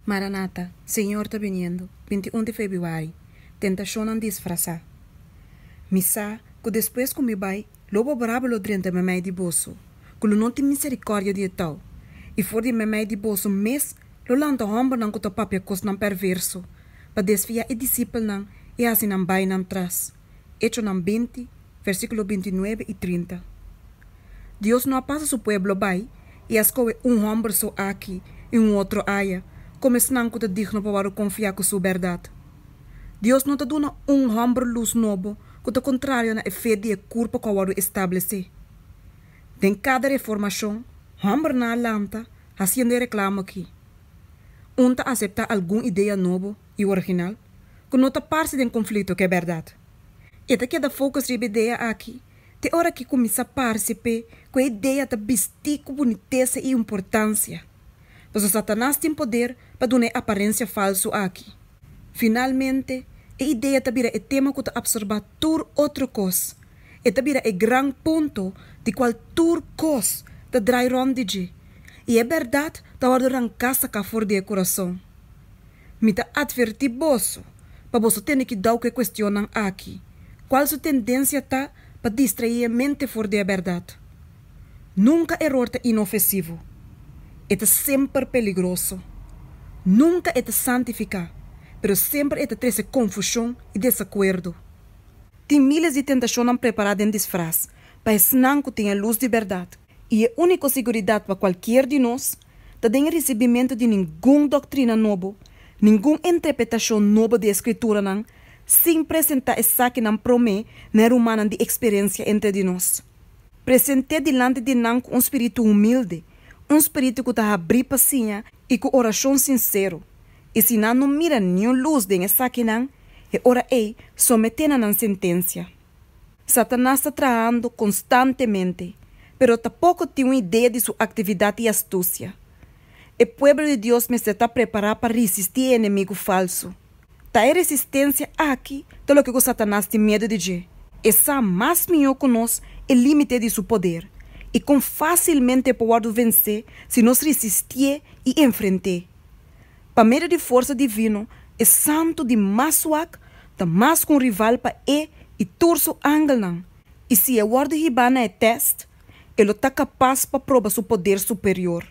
Maranata, Señor ta biniendo, binti un di febiuari, Tentacionnan disfrasá. Mi sa cu despues cu mi bai, lo bo brabo lo drenta memey di boso, cu lo no tin misericordia di e tau, y for di e memey di boso mes lo lanta hombernan cu ta papia cosnan perverso, pa desfia e discipelnan y haci nan bai nan tras. Hechonan binti, versíkulo binti nuebe i trinta. Dios no a pasa su pueblo bai i a skohe un hòmber so aki i un otro aya komo esnan ku ta digno pa wòrdu konfiá ku su bèrdat. Dios no ta duna un hòmber lus nobo ku ta kontrario na e fe di e kurpa ku a wòrdu establesé. Den kada reformashon, hòmbernan a lanta hasiendo e reklamo akí, Un ta aseptá algun idea nobo? i original, ku no ta parse den konflikto ku e bèrdat. E ta keda fokus riba e idea aki te ora ku e kuminsá parse p'e ku e idea ta bistí ku bunitesa i importansia. Pasobra Satanas tin poder pa duna e aparensia falsu aki. Finalmente, e idea ta bira e tema ku ta apsorbá tur otro kos. E ta bira e gran punto di kual tur kos ta drai rònt di dje, i e bèrdat ta wòrdu ranká saká for di e kurason. Mi ta atvertí boso pa boso tene ki dau ku e kuestionnan aki, Kual su tendensia ta pa distraé e mente for di e bèrdat? Nunka eror ta inofesivo. E ta semper peligroso. Nunka e ta santifiká, pero semper e ta trese konfushon i desakuerdo. Tin míles di tentashonnan prepará den disfras pa esnan ku tin e lus di bèrdat. I e úniko siguridat pa kualkier di nos ta den e risibimentu di ningun doktrina nobo, ningun entrepretashon nobo di e Skrituranan, sin presentá esakinan promé na e rumannan di eksperensia entre di nos. Present'é dilanti di nan ku un spiritu humilde, un spiritu ku ta habrí pa siña i ku orashon sinsero. I si nan no mira niun lus den esakinan, e ora ei someté na nan sentensia. Satanas ta trahando konstantemente, pero ta poko tin un idea di su aktividat i astusia. E pueblo di Dios mester ta prepará pa risistí e enemigu falsu. Ta e resistensia aki ta loke ku Satanas tin medu di dje. E sa mas mihó ku nos e límite di su poder i kon fásilmente e por wòrdu vensé si nos risistié i enfrent'é. Pa medio di forsa divino, e santu di mas suak ta mas ku un rival pa e i tur su angelnan, i si e wòrdu hibá na e tèst, e lo ta kapas pa proba su poder superior.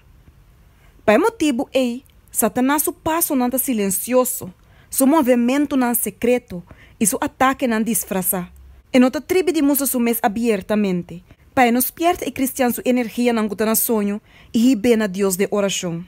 Pa e motibu ei, Satanas su pasonan ta silensioso, su movementunan sekreto i su atakenan disfrasá. E no ta tribi di mustra su mes abiertamente, pa e no spièrta e kristian su energianan ku ta na soño i hib'é na Dios den orashon.